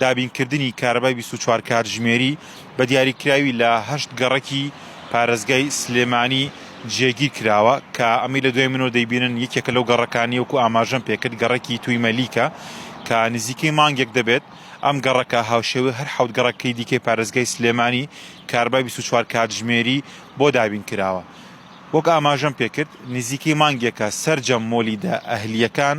دابینکردنی کارەبای بیست و چوار کاتژمێری بە دیاریکراوی لە هەشت گەڕەکی پارێزگای سلێمانی جێگیر کراوە کە ئەمەی لە دوای منەوە دەیبینن یەکێکە لەو گەڕەکانی وەکو ئاماژەم پێکرد گەڕەکی توی مەلیکە کە نزیکەی مانگێک دەبێت ئەم گەڕەکە هاوشێوەی هەر حەوت گەڕەکەی دیکەی پارێزگای سلێمانی کارەبای بیست و چوار کاتژمێری بۆ دابین کراوە وەک ئاماژەم پێکرد نزیکەی مانگێکە سەرجەم مۆلیدە ئەهلییەکان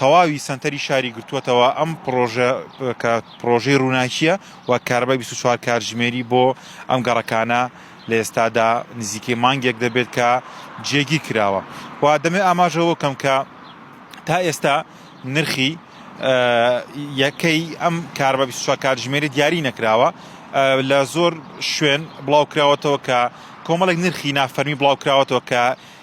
تەواوی سەنتەری شاری گرتووەتەوە ئەم پڕۆژە کە پڕۆژەی ڕووناکیە و کاربای 24 کارژمێری بۆ ئەم گەڕەکانە لە ئێستادا نزیکەی مانگێک دەبێت کە جێگیر کراوە و دەمێ ئاماژەوە کەم کە تا ئێستا نرخی یەکەی ئەم کاربە 24 کاتژمێری دیاری نەکراوە لە زۆر شوێن بڵاوکراوەتەوە کە کۆمەڵێک نرخی نافەرمی بڵاوکراوەتەوە کە